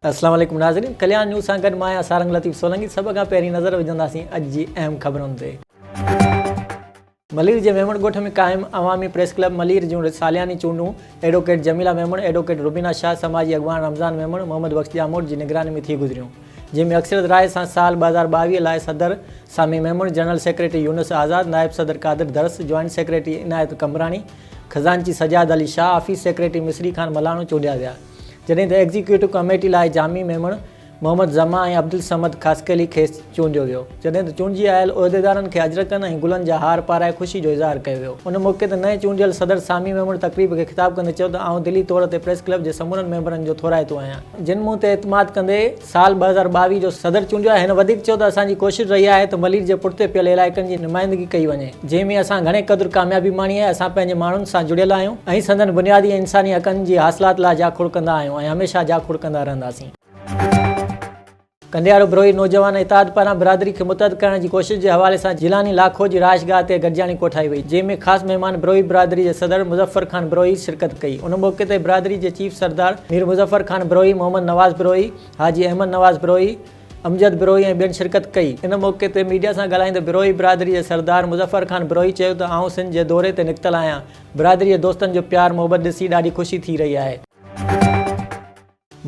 اسلام عليڪم ناظرين ڪليان نيوز سان گڏ مان آهيان سارنگ لطيف سولنگي سڀ کان پهرين نظر وجهنداسين اڄ جي اهم خبرن تي. ملير جي ميمڻ ڳوٺ ۾ قائم عوامي پريس ڪلب ملير جون سالياني چونڊون ايڊووڪيٽ جميله ميمڻ، ايڊووڪيٽ روبينا شاهه، سماجي اڳواڻ رمضان ميمڻ، محمد بخش ڄاموٽ جي نگراني ۾ ٿي گذريون. جنهن ۾ اڪثريت راء سان سال ٻه هزار ٻاويهه لاء صدر سامي ميمڻ، جنرل سيڪريٽري يونس آزاد، نائب صدر قادر درس، جوائنٽ سيڪريٽري عنايت قمبراڻي، خزانچي سجاد علي شاهه، آفيس سيڪريٽري مصري خان ملاڻو چونڊيا ويا، جڏهن ته ايگزيڪيوٽو ڪاميٽي لاء جامي ميمڻ، محمد زمان ۽ عبدالصمد خاصخيلي کي چونڊيو ويو، جڏهن ته چونڊجي آيل عهديدارن کي اجرڪن ۽ گلن جا هار پارائي خوشي جو اظهار ڪيو ويو. ان موقعي تي نئين چونڊيل صدر سامي ميمڻ تقريب کي خطاب ڪندي چيو ته آئون دلي طور تي پريس ڪلب جي سمورن ميمبرن جو ٿورائتو آهيان، جن مون تي اعتماد ڪندي سال ٻه هزار ٻاويهه جو صدر چونڊيو آهي، هن وڌيڪ چيو ته اسان جي ڪوشش رهي آهي ته ملير جي پٺتي پيل علائقن جي نمائندگي ڪئي وڃي، جنهن ۾ اسان گهڻي قدر ڪاميابي ماڻي آهي، اسان پنهنجي ماڻهن سان جڙيل آهيون ۽ سندن بنيادي ۽ انساني حقن جي حاصلات لاء جاکوڙ ڪندا آهيون ۽ هميشه جاکوڙ ڪندا رهنداسين. ڪنڊيارو بروهي نوجوان اتحاد پاران برادري کي متحد ڪرڻ جي ڪوشش جي حوالي سان جيلاني لاکو جي رهائش گاهه تي گڏجاڻي ڪوٺائي وئي جنهن ۾ خاص مهمان بروهي برادري جي صدر مظفر خان بروهي شرڪت ڪئي ان موقعي تي برادري جي چيف سردار مير مظفر خان بروهي محمد نواز بروهي حاجي احمد نواز بروهي امجد بروهي ۽ ٻين شرڪت ڪئي ان موقعي تي ميڊيا سان ڳالهائيندي بروهي برادري جي سردار مظفر خان بروهي چيو ته آئون سنڌ جي دوري تي نڪتل آهيان برادري جي دوستن جو پيار محبت ڏسي ڏاڍي خوشي ٿي رهي آهي.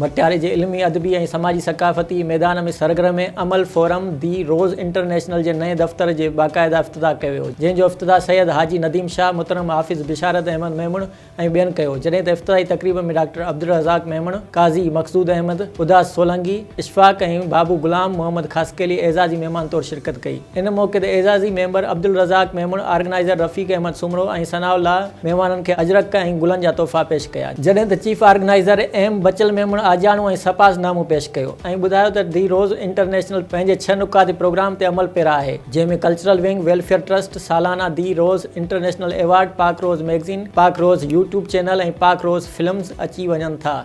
ڀٽياري جي علمي، ادبي ۽ سماجي ثقافتي ميدان ۾ سرگرم عمل فورم دي روز انٽرنيشنل جي نئين دفتر جي باقاعده افتتاح ڪيو ويو جنهن جو افتتاح سيد حاجي نديم شاهه محترم حافظ بشارت احمد ميمڻ ۽ ٻين ڪيو جڏهن ته افتتاحي تقريب ۾ ڊاڪٽر عبدالرزاق ميمڻ، قاضي مقصود احمد، اداس سولنگي، اشفاق ۽ بابو غلام محمد خاصخيلي اعزازي مهمان طور شرڪت ڪئي ان موقعي تي اعزازي member Abdulrazzaq Memon, organizer Rafiq Ahmed Soomro ۽ Sanaullah. مهمانن کي اجرڪ ۽ گلن جا تحفا پيش ڪيا، جڏهن ته chief organizer M Bachal Memon آجياڻو ۽ سپاس نامو پيش ڪيو ۽ ٻڌايو ته دي روز انٽرنيشنل پنهنجي ڇهه نقاطي پروگرام تي عمل پيرا آهي، جنهن ۾ ڪلچرل ونگ ويلفيئر ٽرسٽ سالانه The Rose International award, Pak Rose magazine, Pak Rose YouTube channel ۽ Pak Rose films اچي وڃن ٿا.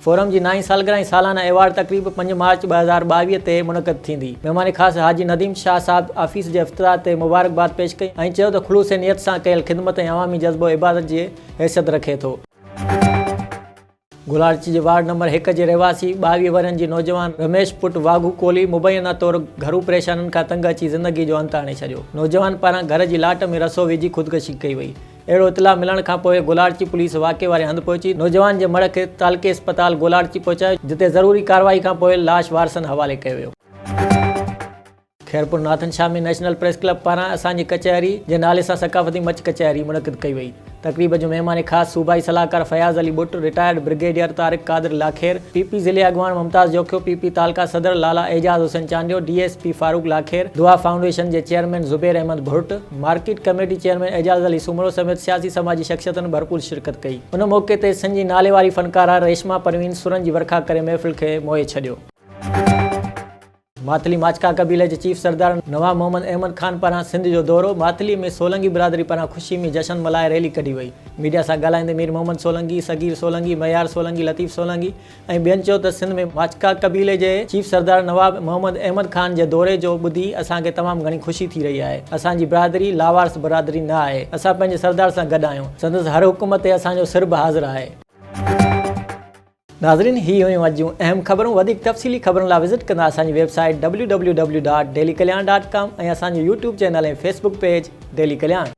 فورم جي نائين سالگرهه ۽ سالانه ايوارڊ تقريب پنج مارچ ٻه هزار ٻاويهه تي منعقد ٿيندي، مهمان خاص حاجي نديم شاهه صاحب آفيس جي افتتاح تي مبارڪباد پيش ڪئي ۽ چيو ته خلوص نيت سان ڪيل خدمت ۽ عوامي جذبو عبادت جي حيثيت رکي ٿو. گولاڙچ جي وارڊ نمبر هڪ جي رهواسي ٻاويهه ورهين جي نوجوان رميش پٽ واگهو ڪولهي مبينا طور گهرو پريشانين کان تنگ اچي زندگي جو انت آڻي ڇڏيو، نوجوان پاران گهر جي لاٽ ۾ رسو وجهي خودڪشي ڪئي وئي، اهڙو اطلاع ملڻ کانپوء گولاڙچي پوليس واقعي واري هنڌ پهچي نوجوان جي مڙهه کي تعلقي اسپتال گولاڙچي پهچايو جتي ضروري ڪارروائي کانپوء لاش وارثن حوالي ڪيو ويو. Khairpur Nathan Shah ۾ national press club پاران اسان جي ڪچهري جي نالي سان ثقافتي مچ ڪچهري منعقد ڪئي وئي. تقريب جو مهمان خاص صوبائي صلاحڪار Fayaz Ali Butt, retired brigadier Tariq Qadir Lakhair, P P ضلعي اڳواڻ ممتاز جوکيو، پي پي تعلقه صدر Lala Ejaz Hussain Chandio, D S P Farooq Lakhair, Dua foundation جي chairman Zubair Ahmed Bhurt, market committee chairman Ejaz Ali Soomro سميت سياسي سماجي شخصيتن ڀرپور شرڪت ڪئي ان موقعي تي سنڌ جي ناليواري فنڪاره ريشما پروين سرن جي ورکا ڪري محفل کي موهي ڇڏيو. ماٿلي ماڇڪا قبيلي جي چيف سردار نواب محمد احمد خان پاران سنڌ جو دورو، ماٿلي ۾ سولنگي برادري پاران خوشي ۾ جشن ملهائي ريلي ڪڍي وئي، ميڊيا سان ڳالهائيندي مير محمد سولنگي، صغير سولنگي، مهيار سولنگي، لطيف سولنگي، ۽ ٻين چيو ته سنڌ ۾ ماڇڪا قبيلي جي چيف سردار نواب محمد احمد خان جي دوري جو ٻڌي اسان کي تمام گهڻي خوشي ٿي رهي آهي، اسان جي برادري لاوارث برادري نه آهي، اسان پنهنجي سردار سان گڏ آهيون، سندس هر حڪم تي اسان جو سر به حاضر آهي. ناظرين هي هيون اڄ جون اهم خبرون وڌيڪ تفصيلي خبرن لا وزٽ ڪندا اسان جي website W W W dot daily Kalyan dot com ۽ اسان جو YouTube channel ۽ Facebook page daily Kalyan.